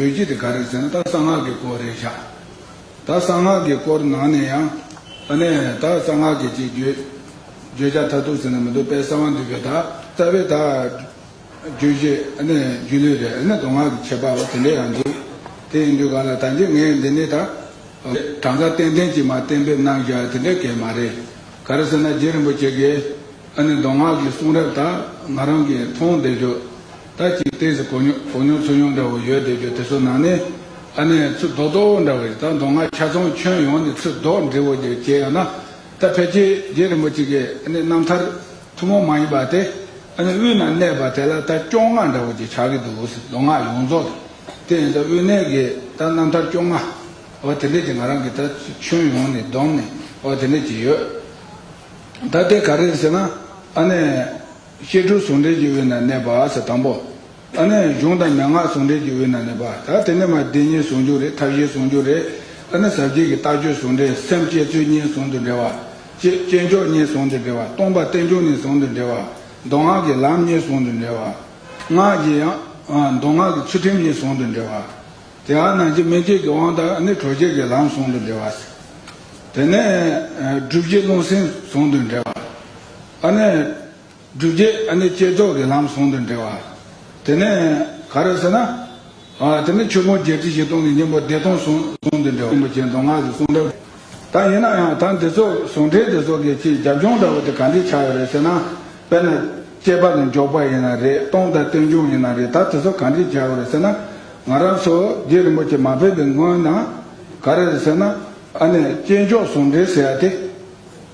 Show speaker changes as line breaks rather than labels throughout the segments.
ཡོད་རྒྱུ་དེ་ག་རེད་ཟེར་ན་ད་གསང་སྔགས་ཀྱི་སྐོར་རེད་བཞག་ད་གསང་སྔགས་ཀྱི་སྐོར་ནང་ནས་ཡང་ཨ་ནས་ད་གསང་སྔགས་ཀྱི་ཅིག་བརྗོད་བརྗོད་བྱ་ཐ་དུག་ཟེར་ན་མི་འདུག་པས་གསང་བ་འདུས་པའི་ད་རྩ་བའི་ད་རྗོད་བྱེད་ཨ་ནས་རྒྱུད་ལུས་རེད་ཨ་ནས་མདོ་སྔགས་ཀྱི་ཁྱད་པར་བ་དེ་འདྲ་ཡང་འདུག་དེ་ཡིན་དུས་ག་ལ་ད་འདི་ངས་འདི་ནི་ད་གྲངས་ཀ་ཏན་ཏན་གྱིས་མ་གཏན་འབེབས་གནང་བཞག་དེ་འདྲ་གལ་མ་རེད་ག་རེ་ཟེར་ན་རྗེ་རིན་པོ་ཆེ་གིས་ཨ་ནས་མདོ་སྔགས་ཀྱི་གསུང་རབ་ད་ང་རང་གིས་མཐོང་བསྡད་དུས། ད་ཅིའི་ལྟས་སུ་གོ་མྱོང་གོ་མྱོང་ཚུར་མྱོང་འདྲ་བོ་ཡོད་བསྡད་པའི་དེ་ཚོ་ནང་ནས། ཨ་ནེ། ཚུར་ལྡོག་ལྡོག་འོ་འདྲ་བོ་རེད་ད་མདོ་སྔགས་ཁྱ་ཚོང་ཁྱོན་ཡོངས་ནས་ཚུར་ལྡོག་འབྲས་བུ་འདིར་སྐྱེལ་ཡོང་ན། ད་ཕལ་ཆེར་རྗེ་རིན་པོ་ཆེ་གི་ཨ་ནེ་རྣམ་ཐར་ཐུན་མོང་མ་ཡིན་པ་དེ། ཨ་ནེ་དབུས་ན་གནས་པ་དེ་ལ་ད་སྐྱོ་ང་འདྲ་བོ་ཅིག་ཆགས་ཀྱི་འདུག་མདོ་སྔགས་ཡོངས་རྫོགས་དང། དེ་ཡིན་ད་དབུས་གནས་ཀྱི་ད་རྣམ་ཐར་སྐྱོ་ང། འོ་དེ་འདྲས་ཀྱི་ང་རང་གིས་ད་ཁྱོན་ཡོངས་ནས་བསྡོམས་ནས་འོ་དེ་འདྲས་ཀྱི་ཡོད། ད་དེ་ག་རེད་ཟེར་ན། ཨ་ནེ། གཤེགས་དྲུག་ཟུང་འབྲེལ་གྱི་དབུས་ན་གནས་པ་ཟེར་དང་པོ། ཨ་ནི་གཞུང་དང་མན་ངག་ཟུང་འབྲེལ་གྱི་དབུས་ན་གནས་པ། ད་དེ་ནི་མ་བདེན་གཉིས་ཟུང་འཇུག་རེད་ཐབས་གཞན་ཟུང་འཇུག་རེད། ཨ་ནི་ཟབ་རྒྱས་ཀྱི་ལྟ་སྤྱོད་ཟུང་འབྲེལ་སེམས་བསྐྱེད་ཚུལ་གཉིས་ཟུང་དུ་འབྲེལ་བ། ཅེས་སྐྱེས་མཆོག་གཉིས་ཟུང་དུ་འབྲེལ་བ་སྟོང་པ་རྟེན་འབྱུང་གཉིས་ཟུང་དུ་འབྲེལ་བ། མདོ་སྔགས་ཀྱི་ལམ་གཉིས་ཟུང་དུ་འབྲེལ་བ། སྔགས་ཀྱི་ཡང། མདོ་སྔགས་ཀྱི་ཚུལ་ཁྲིམས་གཉིས་ཟུང་དུ་འབྲེལ་བ། དེའང་ནང་བསྐྱེད་མིང་བསྐྱེད་ཀྱི་དབང་དང་ཨ་ནི་གྲོལ་བྱེད་ཀྱི་ལམ་ཟུང་དུ་འབྲེལ་བ། དེ་ནས། སྒྲུབ་བྱེད་རླུང་སེམས་ཟུང་དུ་འབྲེལ་བ། ཨ་ནེ། བསྒྲུབས་རྗེས་ཨ་ནེ་བསྐྱེད་རྫོགས་ཀྱི་ལམ་ཟུང་དུ་འབྲེལ་བ། དེ་ནས་ག་རེ་ཟེར་ན། དེ་ནས་ཆོས་ཕུང་བརྒྱད་ཁྲི་བཞི་སྟོང་གི་སྙིང་པོ་བདེ་སྟོང་ཟུང་དུ་འབྲེལ་བ། རིན་པོ་ཆེ་མདོ་སྔགས་ཀྱི་གསུང་རབ། ད་ཡིན་ན་ཡང་ད་འདི་ཚོ་ཟུང་འབྲེལ་འདི་ཚོ་གི་ཆེས་རྒྱབ་ལྗོངས་འདྲ་བོ་དེ་ག་འདྲས་ཆགས་ཡོད་རེད་ཟེར་ན། དཔེར་ན། སྐྱེས་པ་ནས་འཇོག་པ་ཡིན་ན་རེད་སྟོང་དང་སྟོན་མཇུག་ཡིན་ན་རེད་ད་དེ་ཚོ་ག་འདྲས་བྱས་ཡོད་རེད་ཟེར་ན། ང་རང་ཚོ་རྗེ་རིན་པོ་ཆེ་མ་ཕེབས་པའི་སྔོན་ན། ག་རེ་རེད་ཟེར་ན། ཨ་ནེ། བསྐྱེད་རྫོགས་ཟུང་འབྲེལ་ཟེར་ཡ་དེ།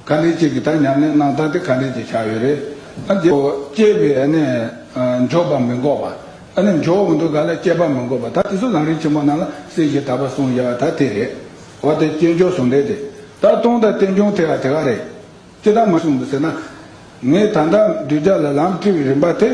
ག་ལེར་གཅིག་གིས་ད་ཉམས་ལེན་གནང་སྟངས་དེ་ག་ལེར་གྱི་ཆ་ཡོད་རེད། ཨ་རྒྱའོ། སྐྱེས་པའི་ཨ་ནི་འཇོག་པ་མི་འགོག་པ། ཨ་ནི་འཇོག་འོང་དུས་ག་ལ་སྐྱེས་པ་མི་འགོག་པ་ད་དེ་ཚོ་རང་རིགས་ཆེན་པོ་རྣམས་ལ་སྲིད་ཞིའི་ཐར་པ་གསུངས་བཞེད་པ་ད་དེ་རེད། འོ་དེ་སྐྱེས་འཇོག་ཟུང་འབྲེལ་དེ་ད་སྟོང་དང་རྟེན་འབྱུང་དེ་ག་དེ་ག་རེད། ཅི་ད་མ་གསུངས་འདུག་ཟེར་ན། ངས་ད་ལྟ་འདུས་རྒྱ་ལ་ལམ་ཁྲིད་པའི་རིམ་པ་དེ་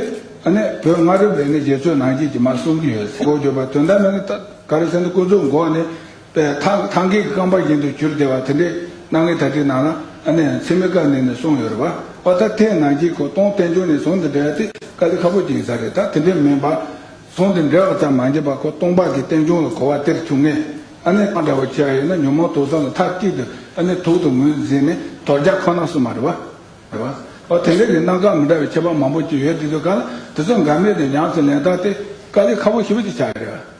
ཨ་ནི་བོད་སྔ་རབས་ལས་ནི་རྗེ་བཙུན་ནང་རྒྱས་ཀྱི་མར་གསུངས་ཀྱི་ཡོད་ཟེར་གོ་བརྗོད་པ་དོན་དམ་ནི་ད་ག་རེ་ཟེར་ན་སྐུ་གཟུགས་འགོག་ནས་པའི་ཐང་གི་ཐང་གའི་རྐང་པ་བཞིན་དུ་གྱུར་བདེ་བ་དེ་འདྲའི་སྣང་ངེ་ད་ཏིག་སྣང་ལ་ཨ་ནེ་ཡང་ཚེ་མི་དཀའ་ནས་ནས་སོང་ཡོད་རེད་བ་བ་ད་ཐེངས་ནང་སྐྱིད་ཁོ་སྟོང་བསྟན་འབྱུང་ནས་ཟོང་དེ་འདྲ་ཡ་ཏི་ཀ་ལི་ཁ་པོ་སྦྱིན་ས་རེད་ད་དེ་འདྲའི་མིན་བ། ཟོང་དེ་འདྲ་བ་ཙམ་མ་འབྱིན་པ་ཁོ་སྟོང་པ་གི་བསྟན་འབྱུང་ལ་གོ་བ་སྟེར་ཐུབ་ངེས་ཨ་ནེ་ཨ་འདྲ་བ་ཁྱེད་ར་ཡོད་ན་ཉོན་མོངས་དུག་ཟོང་ལ་ཐ་ཏིག་དུ་ཨ་ནེ་དུག་ཏུ་ངོས་འཛིན་ནས་དོར་རྒྱག་ཁོ་ན་སུ་མ་རེད་བ། བ་དེ་འདྲ་གི་སྣང་ག་མི་འདྲ་བའི་ཁྱད་པར་མང་པོ་ཅིག་ཡོད་དེ་དུས་ག་ལ་དེ་ཚོ་འགའ་མེད་ནས་ཉམས་སུ་ལེན་ད་ཏི་ཀ་ལི་ཁ་པོ་ཞིབ་ཅིག་ཆགས་ཡོད་རེད་བ།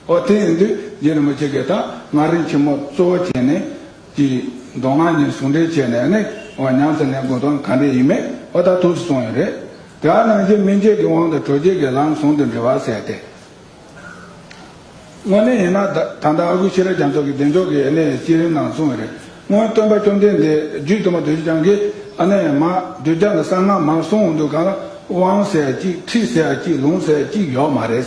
ཨོ་དེ་ཡིན་དུས་རྗེ་རིན་པོ་ཆེ་གིས་ད་སྔ་རིན་ཆེན་མོ་གཙོ་བོ་བྱས་ནས་ཀྱི་མདོ་སྔགས་གཉིས་ཟུང་འབྲེལ་བྱས་ནས་ནི་འོ་ཉམས་སུ་ལེན་དགོས་དོན་ག་འདྲས་ཡིན་མེད་ཨོ་ད་ཐུགས་སུ་སོང་ཡོད་རེད། དེ་ཨ་ནང་བཞིན་སྨིན་བྱེད་ཀྱི་དབང་དུ་གྲོལ་བྱེད་ཀྱི་ལམ་ཟུང་དུ་འབྲེལ་བ་ཟེར་ཏེ། དངོས་གནས་ཡིན་ན་ད་ད་ལྟ་ཨ་ཁུ་ཤེས་རབ་རྒྱ་མཚོ་གི་བདེ་མཆོག་གི་ཨེ་ནས་སྤྱི་རིམ་ནང་གསུངས་ཡོད་རེད་སྔོན་སྟོན་པ་བཅོམ་ལྡན་འདས་རྒྱུད་དུ་མ་དུས་ཆེན་བྱང་གི་ཨ་ནས་མ་དུས་རྒྱ་ལ་གསང་སྔགས་མ་གསུངས་འདུག་ག་ལ་དབང་ཟེར་གཅིག་ཁྲིད་ཟེར་གཅིག་ལུང་ཟེར་གཅིག་ཡོད་མ་རེད།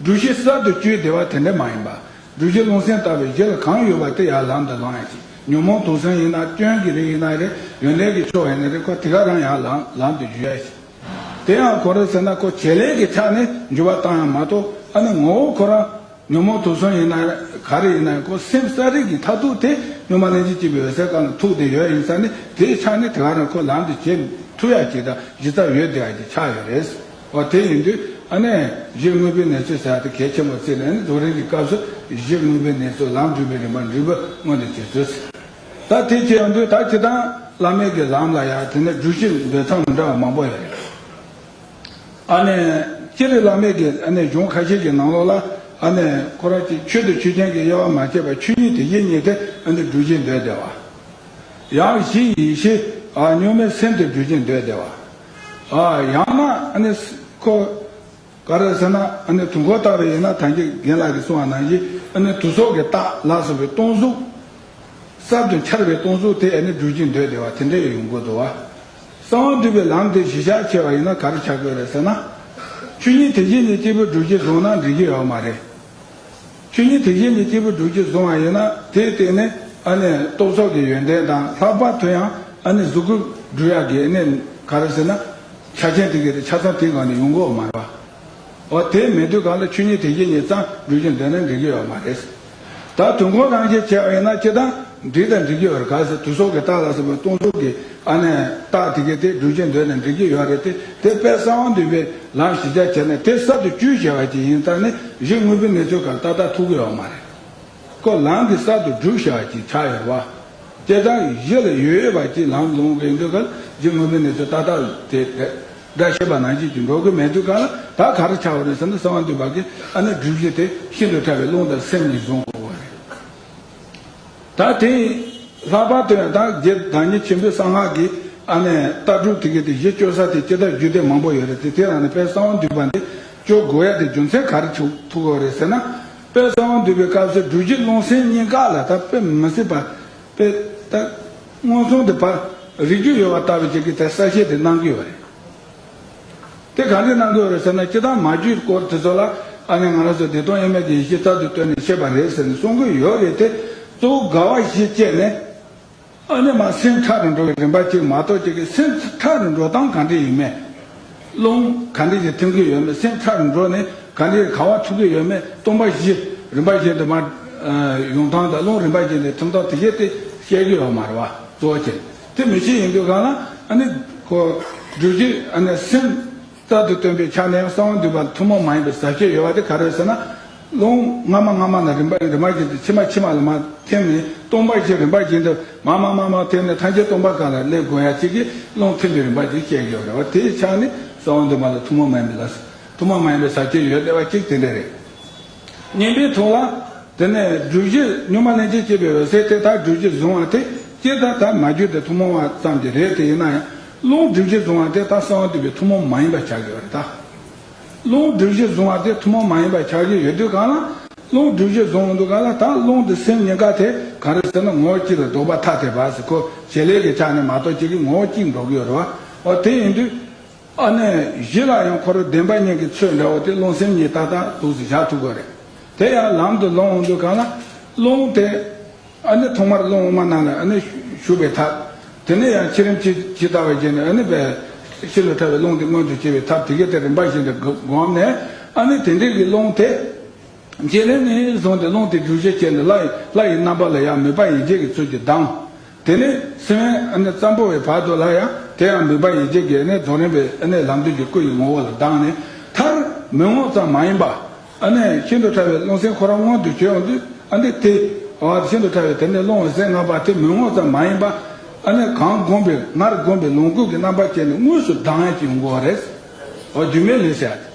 འབྲུ་བཞི་གསར་དུ་བཅོས་བདེ་བ་དེ་འདྲ་མ་ཡིན་པ། འབྲུ་བཞི་རླུང་སེམས་ལྟ་བའི་གཞི་ལ་གང་ཡོད་པ་དེ་ཡར་ལམ་དུ་ལངས་ཡང་སྲིད། ཉོན་མོངས་དུག་སེམས་ཡིན་ན་སྐྱོན་གྱི་རིགས་ཡིན་ན་རེད་ཡོན་ཏན་གྱི་ཕྱོགས་ཡིན་ན་རེད་ཁོ་དེ་ག་རང་ཡར་ལངས་ལམ་དུ་འཇུ་ཡ་ཡིན། དེ་ཡང་གོ་རེ་ཟེར་ན་ཁོ་བྱེད་ལས་ཀྱི་ཆ་ནས་འཇུ་བ་བཏང་ཡང་མ་གཏོགས་ཨ་ནི་ངོ་བོ་ཁོ་རང་ཉོན་མོངས་དུག་སེམས་ཡིན་ན་ག་རེ་ཡིན་ན་ཡང་ཁོ་སེམས་གསར་རིག་གི་མཐར་ཐུག་དེ་སྙོ་མ་ལན་ཅིག་སྐྱེས་པའི་འོད་གསལ་གང་ལ་ཐུག་བདེ་ཡོད་ཡིན་ས་ནི་དེའི་ཆ་ནས་དེ་ག་རང་ཁོ་ལམ་དུ་བྱེད་ཐུབ་ཡ་བྱེད་ད་གཞི་རྩ་ཡོད་བདེ་བ་གྱི་ཆ་ཡོད་རེད། བ་དེ་ཡིན་དུས་ཨ་ནེ། གཞི་དངོས་པོའི་གནས་ཚུལ་གསལ་ཐིག་གལ་ཆེན་པོར་བརྩིས་ནས་ནི་རྡོ་རིང་གི་སྐབས་སུ་གཞི་དངོས་པོའི་གནས་ཚུལ་ལམ་སྒྲིབ་པའི་རིམ་པ་འདྲི་བ་སྔོན་དུ་བྱེད་ཚུལ་གསལ། ད་ཐེངས་ཀྱི་ཡང་དུས་དག་གི་དང་བླ་མེད་ཀྱི་ལམ་ལ་ཡང་དེ་ནས་འགྲུལ་བཞུད་འབེལ་མཚམས་མི་འདྲ་བ་མང་པོ་ཡོད་རེད། ཨ་ནེ། སྤྱིར་བླ་མེད་ཀྱི་ཨ་ནེ་གཞུང་ཁ་ཤས་ཀྱི་ནང་ལོགས་ལ་ཨ་ནེ། ཁོ་རང་ཅིག་ཆོད་དུ་ཆོས་ཅན་གྱི་དབྱེ་བ་མ་ཕྱེས་པར་ཆོས་ཉིད་དེ་ཡེ་ཉིད་དེ་ཨ་ནེ་འགྲུལ་བཞུད་འདོད་བདེ་བ། ཡང་གཞི་ཡེ་ཤེས། གཉུག་མའི་སེམས་དེ་འགྲུལ་བཞུད་འདོད་བདེ་བ། ཡང་ན་ཁོ་ག་རེ་ཟེར་ན་དུས་འཁོར་བརྟག་པའི་ཡིན་ན་ཐང་ཅིག་རྒན་ལགས་ཀྱིས་གསུང་བ་ནང་བཞིན་དུ་སྲོག་གི་རྟགས་ལ་སོགས་པའི་སྟོང་གཟུགས། གསར་དུ་འཆར་བའི་སྟོང་གཟུགས་དེ་སྒྲུབ་ཀྱིན་སྡོད་བདེ་བ་དེ་འདྲ་ཡང་ཡོང་དགོས་འདུག་བ། གསང་བ་འདུས་པའི་ལམ་དེ་གཞི་ཆགས་ཆེ་བ་ཡིན་ན་ག་རེ་བྱ་དགོས་རེད་ཟེར་ན། ཆོས་ཉིད་དེ་བཞིན་ཉིད་སྐྱེས་བུ་སྒྲུབ་ཀྱི་བཟུང་ན་འགྲིག་གི་ཡོད་མ་རེད། ཆོས་ཉིད་དེ་བཞིན་ཉིད་སྐྱེས་བུ་དྲུག་ཅུ་བཟུང་བ་ཡིན་ན་དེའི་སྟེང་ནས་ཨ་ནི་རྟོག་ཚོགས་ཀྱི་ཡོན་ཏན་དང་ལྷག་པར་དུ་ཡང་ཨ་ནི་གཟུགས་སྐུ་སྦྲུལ་ཡ་གི་གནས། ག་རེ་ཟེར་ན། ཆ་ཆེན་ཐིག་གི་རེ་ཆ་ཚང་ཐིག་གང་ནས་ཡོང་གི་འོ་མ་རེད་བ། འོ་དེས་མི་འདོད་གང་ལ་ཆོས་ཉིད་དེ་བཞིན་ཉིད་གཙང་སྦྲུལ་གྱི་མདུན་ན་འགྲེང་གི་ཡོ་མ་རེད། ད་དུས་འཁོར་རང་བཞིན་བྱས་པ་ཡིན་ན་ཅི་དང། འབྲི་དང་འབྲི་གི་ཡོད་རེད་ག་ཟེར་དུས་སོག་གི་རྟགས་ལ་སོགས་པའི་སྟོང་གཟུགས་ཀྱི་ཨ་ནས་རྟགས་དེ་གའི་དེ་འབྲུ་ཆེན་འདོད་ནས་འབྲི་གི་ཡོད་རེད་དེ་དེ་དཔལ་གསང་བ་འདུས་པའི་ལམ་ཞི་ཆ་བྱས་ནས་དེ་གསར་དུ་བཅུས་བྱས་བ་ཅིག་ཡིན་ཙང་ནི་གཞི་དངོས་པོའི་གནས་ཚུལ་གང་ཏག་ཏག་ཐུག་གི་ཡོད་མ་རེད་ཀོ་ལམ་གྱི་གསར་དུ་བསྒྲུབས་བྱས་བ་ཅིག་ཆགས་ཡོད་བ། སྐྱེ་ཙང་གི་གཞི་ལ་ཡོད་ཡོད་བ་ཅིག་ལམ་ལོང་གི་ཡིན་དུས་གལ་གཞི་དངོས་པོའི་གནས་ཚུལ་ཏག་ཏག་དེ་འདྲ་ཤེས་པ་ནང་བཞིན་གྱིས་འགྲོ་གི་མེད་དུས་གང་ལ་ད་ག་རེ་ཆགས་བ་རེད་ཟེར་ན་གསང་བ་འདུས་པ་གའི་ཨ་ནས་བསྒྲུབས་བྱས་དེ་ཤིན་ཏུ་ཕྲ་བའི་རླུང་དང་སེམས་ནི་བཟུང་དགོས་བ་རེད། ད་ཐེངས་ལྷག་པར་དུ་ཡང་དང་རྗེ་བདག་ཉིད་ཆེན་པོའི་གསང་སྔགས་ཀྱི་ལྟ་གྲུབ་དེ་གའི་དེ་གཞི་བཅོལ་ས་དེ་སྤྱི་ལྟར་རྒྱུད་སྡེ་མང་པོ་ཡོད་རེད་དེ་དེ་རང་ནས་དཔལ་གསང་བ་འདུས་པ་འདི་བཅོལ་དགོས་ཡ་དེ་རྒྱུ་མཚན་ག་རེ་ཐུག་ཐུག་གོ་རེད་ཟེར་ན། དཔལ་གསང་བ་འདུས་པའི་སྐབས་སེ་འབྲུ་གཞི་ཀློང་སེང་གཉིས་ཀ་ལ་ད་དཔེ་མི་སྲིད་པ་དཔེ་ད་སྔོན་སོང་དེ་བར་རིག་རྒྱུ་ཡོད་པ་ལྟ་བུ་ཅིག་གིས་དེ་གསལ་བཤད་དེ་གནང་གི་ཡོད་རེད། དེ་ག་འདྲས་གནང་དགོས་རེད་ཟེར་ན་ཅི་ལྟར་མ་རྒྱུད་སྐོར་དེ་ཚོ་ལ་ཨ་ནེ་ང་རང་ཚོ་བདེ་སྟོང་དབྱེར་མེད་ཀྱི་ཡེ་ཤེས་རྩལ་དུ་བཏོན་ནས་བཤད་པ་རེད་ཟེར་ནས་གསུང་གི་ཡོད་རེད་དེ་གཙོ་བོ་དགའ་བ་བཞི་སྤྱད་ནས་ཨ་ནེ་མ་སེམས་ཁྲག་རུ་འགྲོ་བའི་རིམ་པ་གཅིག་མ་གཏོགས་ཁྱེད་ཀྱི་སེམས་ཁྲག་རུ་འགྲོ་སྟངས་ག་འདྲས་ཡོད་མེད། རླུང་ག་འདྲས་ཀྱིས་ཐིམ་གི་ཡོད་མེད་སེམས་ཁྲག་རུ་འགྲོ་ནས་ག་འདྲས་ཀྱི་གང་བ་འཐུག་གི་ཡོད་མེད་སྟོང་པ་བཞི་རིམ་པ་བཞི་འདི་མ་ཡོང་སྟངས་དང་རླུང་རིམ་པ་བཞི་འདི་ཐིམ་སྟངས་དེ་བཞི་དེ་བཤད་ཀྱི་ཡོད་མ་རེད་བ་གཙོ་བོ་ཁྱེད། དེ་མི་བྱེད་ཡིན་དུས་གང་ལ་ཨ་ནི། གོ། སྒྲུབ་བྱེད་ཨ་ནི་སེམས། རྩལ་དུ་སྟོན་པའི་ཆ་ནས་གསང་བ་འདུས་པ་ཐུན་མོང་མ་ཡིན་པའི་ཟབ་ཆོས་ཡོད་པ་དེ་ག་རེ་ཟེར་ན། རླུང། སྔ་མ་སྔ་མ་ན་རིམ་པ་རིམ་པར་འབྱིན་ཏེ་ཕྱི་མ་ཕྱི་མ་ལ་མ་ཐིམ་ནས་སྟོང་པར་བྱེད་རིམ་པར་འབྱིན་ཏེ་མ་མ་མ་མ་ཐིམ་ནས་ཐམས་ཅད་སྟོང་པ་ག་ལ་ལས་དགོས་ཡ་གཅིག་གིས་རླུང་ཐིམ་པའི་རིམ་པ་དེ་བཤད་ཀྱི་ཡོད་རེད་བ་དེའི་ཆ་ནས་གསང་བ་འདུས་པ་ལ་ཐུན་མོང་མ་ཡིན་པའི་ལ། ཐུན་མོང་མ་ཡིན་པའི་ཟབ་ཆོས་ཡོད་ལེ་བ་གཅིག་དེ་འདྲ་རེད། བསྙེན་པའི་ཐོ་བ། དེ་ནས་སྦྲུལ་གཞི་སྨྱུག་མ་ལན་ཅིག་བསྐྱེད་པའི་འོད་ཟེར་དེ་དག་སྦྲུལ་གྱིས་བཟུང་བ་དེ་སྐྱེས་ད་ད་མ་རྒྱུད་དེ་ཐུན་མོང་བ་ཙམ་གྱི་རེད་དེ་ཡིན་ན་ཡང་རླུང་སྦྲུལ་གྱིས་བཟུང་བ་དེ་དག་གསང་བ་འདུས་པའི་ཐུན་མོང་མ་ཡིན་པར་བྱ་དགོས་པ་རེད་ད། རླུང་སྦྲུལ་གྱིས་བཟུང་བ་དེ་ཐུན་མོང་མ་ཡིན་པར་བྱ་གི་ཡོད་དུས་གང་ལ་རླུང་སྦྲུལ་གྱིས་བཟུང་མི་འདུག་ག་ལ་ད་རླུང་དེ་སེམས་ཉིད་འགའ་དེ་གང་རེད་ཟེར་ན་ངོ་བོ་གཅིག་རེད་འདོགས་པ་ཐ་དད་པ་ཟེར་ཁོ་བྱེད་ལས་ཀྱི་ཆ་ནས་མ་གཏོགས་གཅིག་གི་ངོ་བོ་གཅིག་འདོགས་གི་ཡོད་རེད་བ། འོ་དེ་ཡིན་དུས། ཨ་ནེ་བཞི་ལ་ཡང་འཁོར་བདེན་པ་གཉིས་ཀྱི་ཚུལ་འདྲ་བོ་དེ་རླུང་སེམས་གཉིས་ཏག་ཏག་དུག་གཟིག་བཞག་ཐུབ་པ་རེད། དེ་ཡང་ལམ་དུ་ལོངས་འོང་དུས་གང་ལ། རླུང་དེ། ཨ་ནེ་ཐོག་མར་རླུང་དབུ་མ་རྣམས་ལ་ཨ་ནེ་ཞུགས་པའི་ཐབས། དེ་ནས་ཡང་ཕྱི་རིམ་ཇི་ལྟ་བ་བཞིན་དུ་ཨ་ནེ་པའི། ཕྱི་ལ་ཕྲ་བའི་རླུང་དེ་མངོན་དུ་བྱེད་པའི་ཐབས་དེ་གའི་ཐད་རིམ་པ་བཞིན་དུ་བསྒོམས་ནས། ཨ་ནེ་དེ་འདྲའི་གི་རླུང་དེ། རྗེས་ལན་ནས་བཟུང་སྟེ་རླུང་དེ་འགྲུལ་བཞུད་བྱས་ནས་ལྷ་ཡི་རྣམ་པ་ལ་ཡང་མོས་པ་ཡིད་བྱེད་ཀྱི་ཚུལ་གྱིས་ལྡང། དེ་ནས་སེམས་དབེན་ཙམ་པོ་བའི་བར་དུ་ལ་ཡང་དེ་ཡང་མིག་པ་ཡི་གེ་བརྒྱད་ནི་རྫོགས་རིམ་པའི་ལམ་དུས་ཀྱི་སྐུ་ཡི་ངོ་བོ་ལ་ལྡང་ནས་མཐར། མི་ངོ་ཙམ་མ་ཡིན་པ། ཤིན་ཏུ་ཕྲ་བའི་རླུང་སེམས་ཁོ་རང་མངོན་དུ་བྱེད་འོང་དུས། དེ། ཤིན་ཏུ་ཕྲ་བའི་དེ་ནས་རླུང་འོད་གསལ་ལྔ་པ་དེ་མི་ངོ་ཙམ་མ་ཡིན་པ། གང་བསྒོམས་པའི་སྔར་བསྒོམས་པའི་ལོངས་སྐུ་གི་རྣམ་པར་བཅད་ནས་དངོས་སུ་ལྡང་བྱེད་འོང་བ་རེད། རྒྱུ་མེད་ལས་བྱ་སྟེ།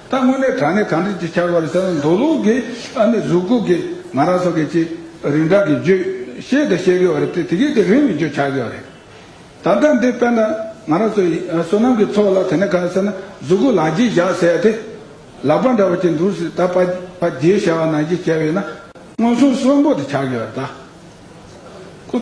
ད་དངོས་གནས་དྲང་གནས་གང་འདྲི་ཅིག་ཆར་བ་རེད་ད་མདོ་ལུགས་ཀྱི་ཨ་ནི་གཟུགས་སྐུ་གི་ང་རང་སོགས་ཀྱི་ཅི་རིགས་འདྲ་གི་རྗོད་བྱེད་དུ་བཤད་དགོས་བ་རེད་དེ་དེ་གས་དེ་རིང་མི་འགྱོད་ཆགས་དགོས་བ་རེད། ད་ལྟ་འདི་དཔེར་ན་ང་རང་ཚོ་ཡི་བསོད་ནམས་ཀྱི་ཚོགས་ལ་དེ་ནས་ག་ཟེར་ན་གཟུགས་སྐུ་ལག་རྗེས་བཞག་ཟེར་ཡ་དེ་ལག་པ་འདྲ་བ་ཅིག་འདུག་སྲིད་ད་པ་རྗེས་བྱ་བ་ནང་བཞིན་བྱས་བས་ན་མངོན་སུམ་གསོན་པོ་དེ་ཆགས་དགོས་བ་རེད་ད། སྐུ།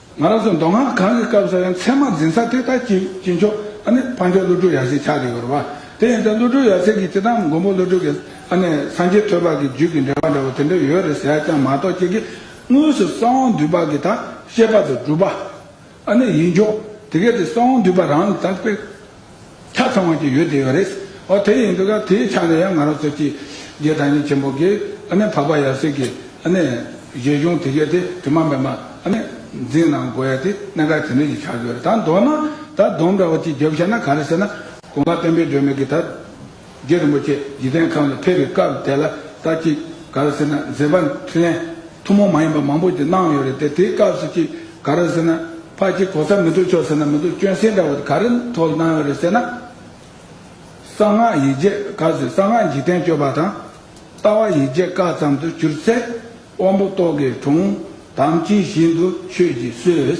ང་རང་ཚོ་མདོ་སྔགས་གང་གི་སྐབས་སུ་ཡང་ཚད་མ་འཛིན་ས་དེ་ལྟར་གྱི་གྱི་མཆོག་ཨ་ནི་འཕགས་མཆོག་བློ་གྲོས་ཡར་ཞེས་བྱ་དེ་ཡོད་རེད་བ། དེ་ཡིན་ཚེ་བློ་གྲོས་ཡར་ཚེ་གིས་ཅི་ལྟར་མགོན་པོ་བློ་གྲོས་ཀྱི་ཨ་ནི་སངས་རྒྱས་ཐོད་པ་གི་རྒྱུད་ཀྱི་འགྲེལ་བ་འདྲ་བོ་དེ་འདྲ་ཡོད་རེད་ཟེར་ཀྱང་མ་གཏོགས་ཁྱེད་ཀྱིས་དངོས་སུ་གསང་དབང་འདུས་པ་གི་ད་བཤད་པ་དང་གྲུབ་པ་ཨ་ནི་ཡིན་ཆོག་དེ་གལ་ཏེ་གསང་དབང་འདུས་པ་རང་ལ་ད་དཔེ་ཆ་ཚང་བ་ཅིག་ཡོད་དེ་ཡོད་རེད། ཨོ་དེ་ཡིན་འདུག་ག་དེའི་ཆ་ནས་ཡང་ང་རང་ཚོ་ཀྱིས། རྒྱའི་དར་ཉིན་ཆེན་པོ་གིས་ཨ་ནི་འཕགས་པ་ཡབ་སྲས་ཀྱི་ཨ་ནི། གཞས་གཞུང་དེ་གས་དེ་དྲི་མ་མེད་པ་ཨ་ནི། འཛིན་གནང་དགོས་ཡ་དེ་གནད་འགག་ཇི་འདྲའི་ཞིག་ཆགས་ཡོད་རེད་ད་མདོར་ན། ད་དོམ་འདྲ་བ་ཅིག་བརྒྱབ་ཤེས་ན་ག་རེ་ཟེར་ན། དགོངས་པ་བརྟན་པོའི་སྒྲོན་མེ་གིས་ད། རྒྱལ་རིན་པོ་ཆེ་འཇིག་རྟེན་ཁམས་ལ་ཕེབས་པའི་སྐབས་དེ་ལ་ལྟ་ཅིག་ག་རེ་ཟེར་ན་མཛེས་པ་འཕྲིན་ལས་ཐུན་མོང་མ་ཡིན་པ་མང་པོ་ཞིག་གནང་ཡོད་རེད་དེ་དེའི་སྐབས་སུ་ཅིག་ག་རེ་ཟེར་ན་ཕ་གཅིག་གོ་ས་མི་འདུག་ཆོག་ཟེར་ན་མི་འདུག་སྐྱོན་བསྲིང་འདྲ་བོ་དེ་ག་རེ་ཐོག་ལ་གནང་ཡོད་རེད་ཟེར་ན། གསང་སྔགས་ཡིག་བརྒྱས་ག་ཟེར་གསང་སྔགས་འཇིག་རྟེན་སྤྱོད་པ་དང། ལྟ་བ་ཡིག་བརྒྱས་བཀའ་ཙམ་དུ་གྱུར་ཚེ་དབང་པོ་རྟོག་གེའི་གྲོང་དམ་ཅི་བཞིན་དུ་ཆོས་ཀྱིས་གསོས།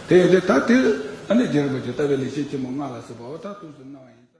དེ་ཡོད་དེ་ད་དེ། ཨ་ནི་རྒྱལ་རིག་པ་ཇི་ལྟ་བའི་ལེགས་བཤད་ཆེན་མོ་སྔགས་ལ་གཟིགས་པའོ་ད་དུས་སུ་སྣང་བ་ཡིན།